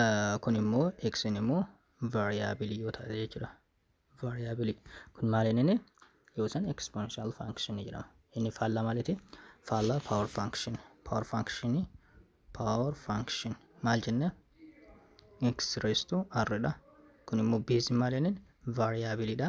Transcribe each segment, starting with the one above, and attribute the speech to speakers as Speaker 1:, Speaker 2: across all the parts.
Speaker 1: Ah, kun immoo xn immoo variabilii yoo taate jechuudha variabilii kun maal inni yoo san exponential function jedhama inni faallaa maaliti faallaa power function power function power function maal jenne x raised to r dha kun immoo base maal inni variabilii dha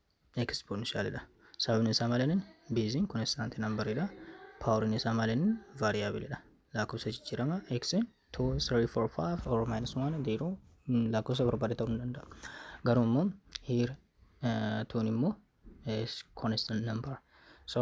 Speaker 1: exponential dha. Sababni isaa maaliin beeziin constant number dha. Powerin isaa maaliin variable dha. Lakkoofsa jijjiirama x 2, 3, 4, 5 or minus 1, 0 mm, lakkoofsa barbaade ta'uu ni danda'a. Garuu immoo here uh, tuun immoo is constant number. So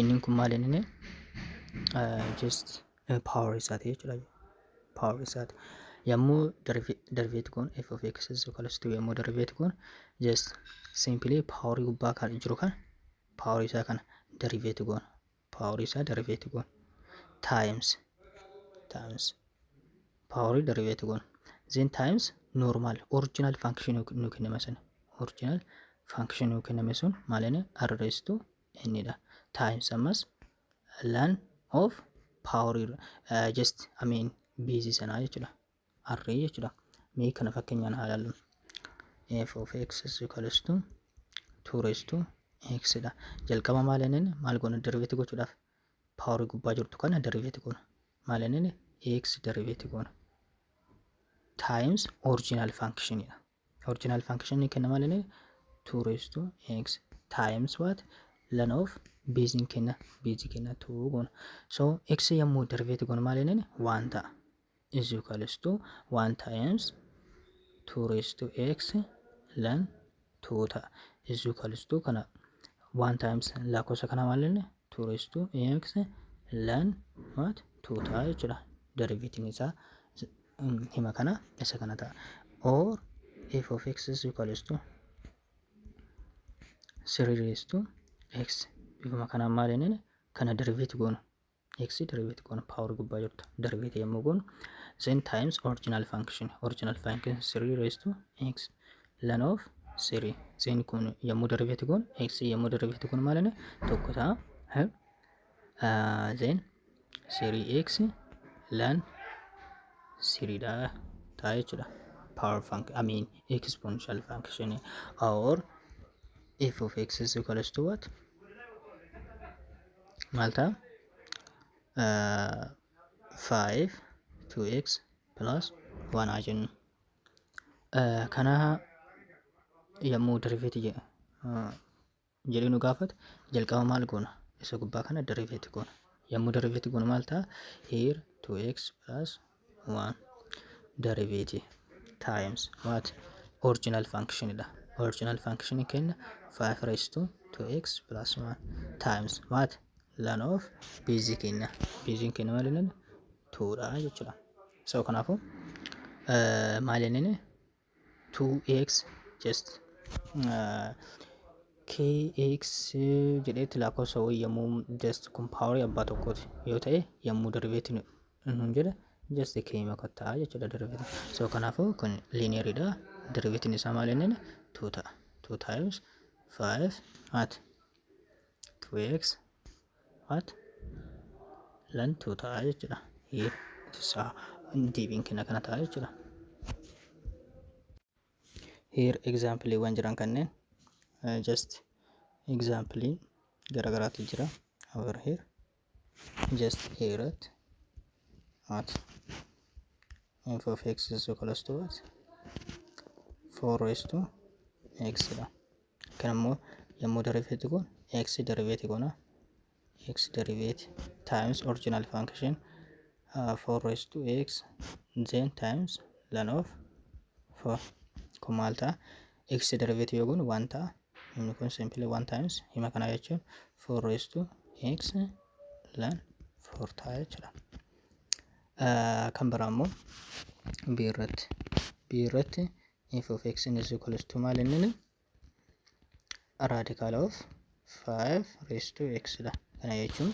Speaker 1: Innin kun maal inni just power isaati jechuudha. Power isaati. Yommuu deriveeti kun f of x is equal to yommuu deriveeti kun just simply power gubbaa kan jiru kan power isaa kana deriveeti kun power isaa deriveeti kun times times paawurii dariveetii goona. Zeen taayims noormaal oriijinaal faankshinii nu kenname sun oriijinaal faankshinii nu kenname sun maalini arreestuu innidha. Taayims ammas laan of paawurii just amiin biizii sanaa jechuudha. Arree jechuudha. Mee kana fakkeenyaan haa ilaallu. f of x is equals to 2 raised to x dha. Jalqaba maal inni maal goona deriveetii gochuudhaaf paawarii gubbaa jirtu kana deriveeti goona. Maal inni x deriveeti goona. Times original function dha. Original function ni kenna maal inni 2 raised to x times what ln of base kenna base kenna 2 goona. So x yommuu deriveeti goona maal inni 1 ta'a. is equals to 1 times 2 raised to x lan 2 ta'a is equals to kana 1 times lakkoofsa kana maal jenne 2 raised to x lan what 2 ta'a jechuudha derivative isaa hima kana isa kana ta'a or f of x is equals to 3 raised to x bifuma kanaan maal jenneen kana derivative goonu x derivative goona power gubbaa jirtu derivative yommuu goonu then times original function original function 3 raised to x ln of 3 then kun yommuu derivative goonu x yommuu derivative goonu maal inni tokko ta'a eh, ah, then 3x ln 3 dha ta'a jechuudha power function I mean exponential function or f of x is equals to what maal ta'a? Uh, 5 2x plus 1 haa jennu. Uh, kana yommuu deriveeti jedhu uh, jedhee nu gaafatu jalqaba maal goona? Isa gubbaa kana deriveeti goona. Yommuu deriveeti goonu maal ta'a? Here 2x plus waan derivative times what original function dha original function keenya 5 raised to 2x plus 1 times what lan of base keenya base keenya maal inni 2 dha jechuudha so kanaafuu maal inni 2x just uh, kx jedheetti lakkoofsa wayii yommuu just kun paawarii abbaa tokkooti yoo ta'e yommuu dariveetti nun jedha just keema kottaa jechuudha dariveetti so kanaafuu kun lineeridha dariveettiin isaa maal inni 2 ta'a 2 times 5 at 2x What? Lantuu ta'a jechuudha. Here it is a deebiin kenna kana ta'a jechuudha. Here exampleewwan jiran kanneen uh, just examplee garagaraatu jira over here just here at at f of x is equals to what 4 raised to x dha Kan ammoo yommuu deriveeti kun x deriveeti goona. x deriveeti times original function uh, 4 raised to x then times ln of 4 kun maal ta'a? x deriveeti yoo goonu 1 ta'a. Inni kun simply 1 times hima kana jechuun 4 raised to x ln 4 ta'a jechuudha. Uh, kan biraa ammoo b irratti b irratti f of x is equals to maal inni raadikaala of 5 raised to x dha. Kana jechuun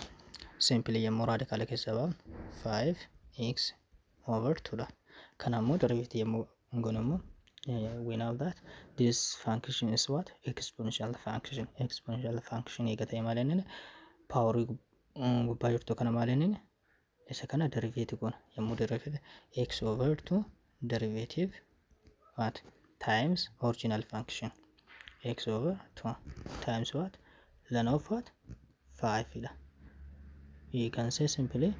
Speaker 1: simpilii yommuu raadikaala keessa baafnu 5 x over 2 dha. Kana immoo deriveetii yommuu goonu immoo we know that this function is what exponential function exponential function eega ta'e maal inni paaworii gubbaa jirtu kana maal inni Isa kana deriveeti goona. Yommuu deriveeti x over 2 derivative what times original function x over 2 times what ln of what 5 dha. You can say simply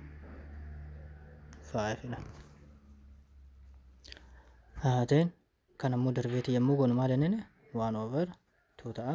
Speaker 1: 5 dha. Uh, then kan ammoo deriveeti yommuu goonu maal inni 1 over 2 ta'a.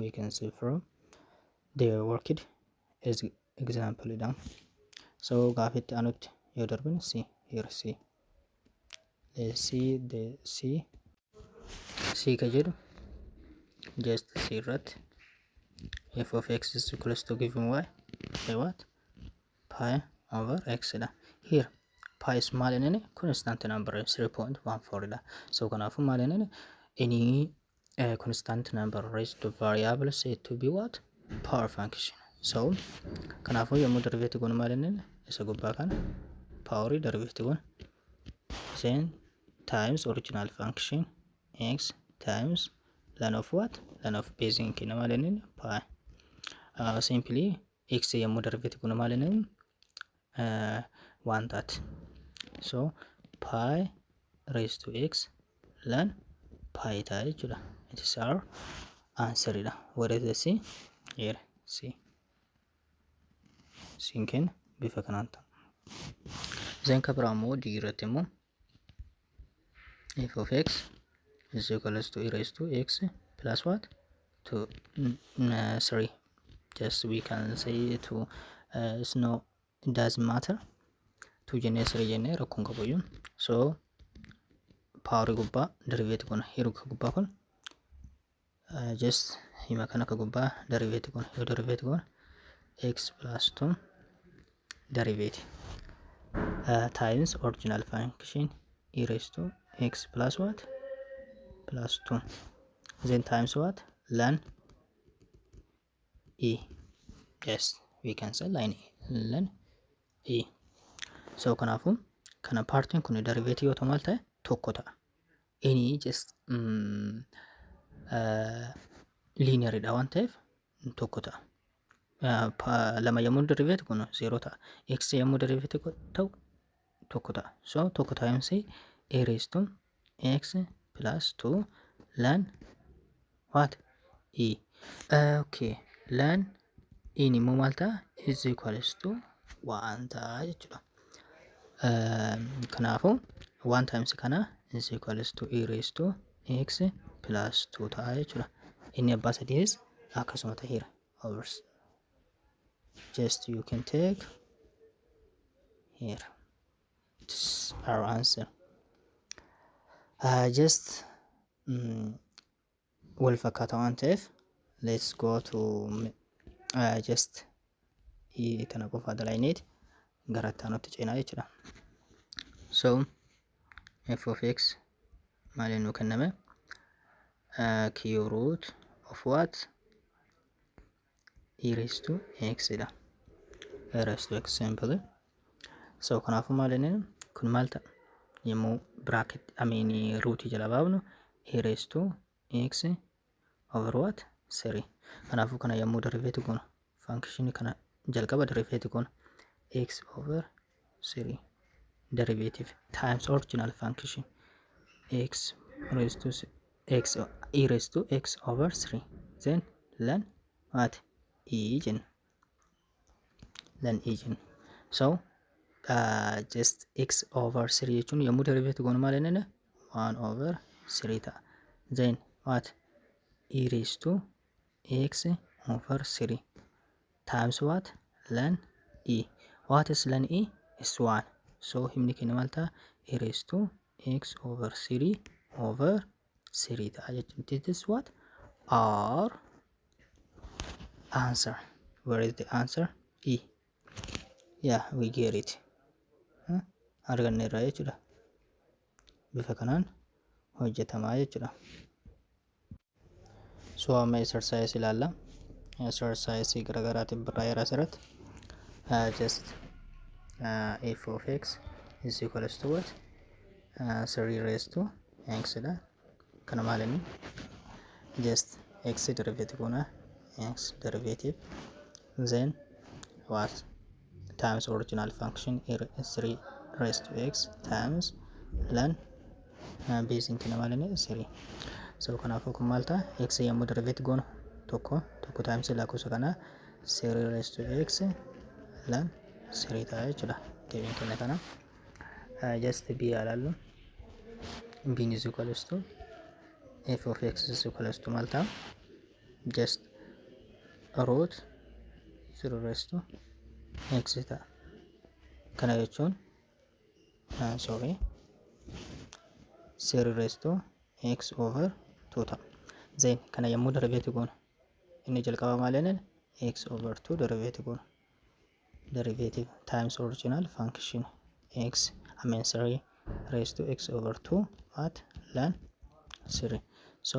Speaker 1: we can see from the worked as example dha so gaafitti anutti yoo darbin si here si let's see the si si ka jedhu just si irratti f of x is equals to given y by what pi over x dha here pi is maal inni constant number 3.14 dha so kanaafuu maal inni inni a constant number raised to variable said to be what power function so kanaafuu yommuu deriveetti goonu maal inni isa gubbaa kana paaworii deriveetti goonu sen times original function x times lan of what lan of base hin kenna maal inni pi uh, simply x yommuu deriveetti goonu maal inni 1 taati. So pi raised to x lan pi ta'a jechuudha. It is our answer dha. What is the C? Here C. Siin kenna bifa kanaan ta'a. Zeen kabraa immoo D irratti immoo f of x is equals to e raised to x plus what to mm, uh, sorry just we can say to uh, it's no it doesn't matter to jennee siree jennee rakkoon qabayyu so paawari gubbaa deriveeti kun hiruka gubbaa kun Uh, just hima kana akka gubbaa deriveeti kun yoo deriveeti kun x plus 2 deriveeti uh, times original function e raised to x plus what plus 2 then times what ln e yes we can say line line e so kanaafu kana paartiin kun deriveetii yoo ta'u maal ta'e tokko ta'a inni just liiniyaridha waan ta'eef tokko ta'a lama yommuu deriveetii kun zeeroo ta'a x yommuu deriveetii ta'u tokko ta'a. So tokko times a raised to x plus 2 lan what e. Uh, okay. Lan in immoo maal ta'a? is equals to waan ta'a jechuudha. Um, kanaafuu waan times kana is equals to e raised to x plus 2 ta'a jechuudha. Inni abbaa sadiis akkasuma ta'eera. Overs. just you can take here it's our answer uh, just mm, wal fakkaata waan ta'eef let's go to mm, uh, just i- tana qofa dalaynit gara taanutti ceenaa jechuudha so f of x maaliin nu kenname uh, cube root of what e raised to x dha e raised to x hin badu so kanaafuu maal jenneen kun maal ta'a yommuu bracket amiin ruutii jala baafnu e raised to x over what 3 kanaafuu kana yommuu deriveeti goona function kana jalqaba deriveeti goona x over 3. Derivative times original function x raised to s- x o- e raised to x over 3 then lan what e jenna lan e jenna so uh, just x over 3 jechuun yommuu derivative goonu maal jennaan 1 over 3 ta'a then what e raised to x over 3 times what lan e what is lan e is 1 so himni keenya maal ta'a e raised to x over 3 over 3 ta'a jechuun this is what our answer where is the answer e yeah we get it Huh? arganne irraa jechuudha bifa kanaan hojjetamaa jechuudha So amma exercise ilaalla. Exercise garaagaraatiin barraa'eera asirratti. Uh, just uh, f of x is equals to what? Uh, 3 raised to x dha. Kana maal inni? Just x derivative goona. x derivative Then what times original function here is 3 raised to x times lan uh, base in kina malini 3 so kanaafuu kun maal ta'a x yommuu derivate goonu tokko tokko times lakkoofsa kana 3 raised to x lan 3 ta'a jechuudha deebiin kina kana uh, just b alaallu b is equals to f of x is equals to maal ta'a just root 0 raised to x ta'a. Kana jechuun ah, sorry 0 raised to x over 2 ta'a. Then kana yommuu deriveeti goonu inni jalqaba maal jenneen x over 2 deriveeti goonu. Derivative times original function x I mean 3 raised to x over 2 at ln 3. So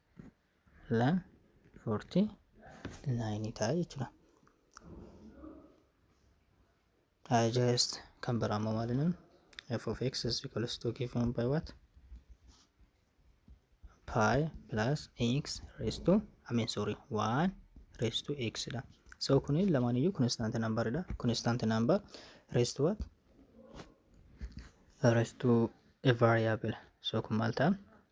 Speaker 1: lan 49 ta'a jechuudha. Digest kan biraa immoo maal jennuun f of x is equals to given by what? pi plus x raised to I mean sorry 1 raised to x dha. So kun lamaan iyyuu constant number dha. Constant number raised to what? Raised to a variable. So kun maal ta'a?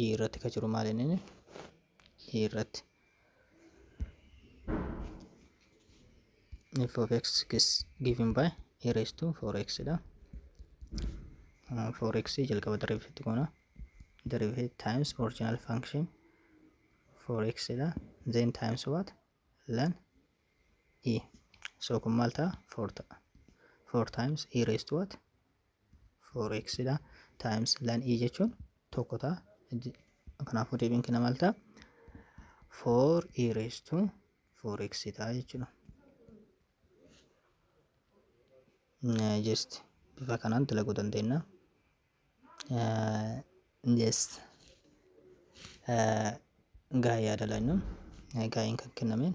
Speaker 1: i irratti ka jiru maal inni i irratti f of x is given by a raised to 4x dha 4x jalqaba derivative goona derivative times original function 4x dha then times what lan e so kun maal ta'a 4 ta'a 4 times e raised to what 4x dha times lan e jechuun tokko ta'a kanaafuu deebiin kenna maal ta'a 4 e raised to 4x ta'a jechuudha just bifa kanaan dalaguu dandeenya just gaa'ee yaada laanyu gaa'een kan kennameen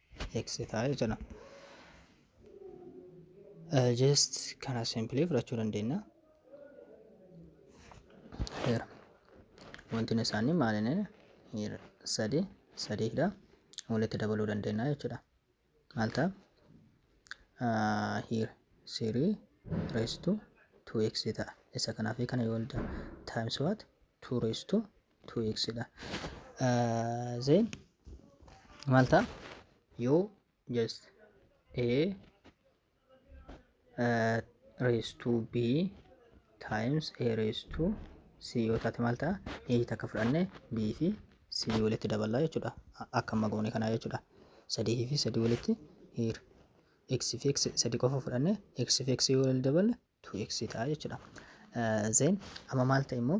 Speaker 1: eksitaa jechuudha. Just kana simpilii fudhachuu dandeenya. Heera. Wantoonni isaanii maalinni heera sadii sadiidha. Walitti dabaluu dandeenya jechuudha. Maal ta'a? Heera sirii reestuu 2x ta'a. Isa kanaa fi kana yoo times what 2 reestuu 2x dha then maal ta'a yoo just a raise to b times a raise to c yoo taate maal ta'a a takka fudhanne b fi c walitti daballa jechuudha akka amma goone kanaa jechuudha sadii fi sadii walitti hiir x fi x sadii qofa fudhanne x fi x yoo walitti daballe 2x ta'a jechuudha then amma maal ta'e immoo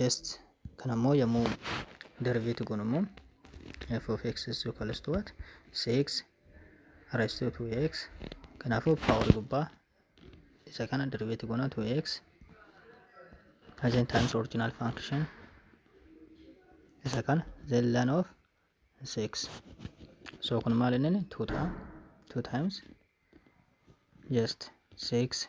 Speaker 1: just kana immoo yommuu derivate goonu immoo f of x is equals to what 6 raised to 2x kanaafuu power gubbaa isa kana derivate goona 2x as in times original function isa kana then ln of 6 so kun maal inni 2 ta'a 2 times just 6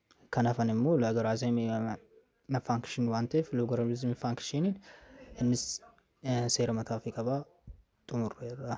Speaker 1: Kan hafan immoo laagaraazimii faankshinii waan ta'eef loogaramizimii faankshiiniin innis seera mataa ofii qaba xumurreerra.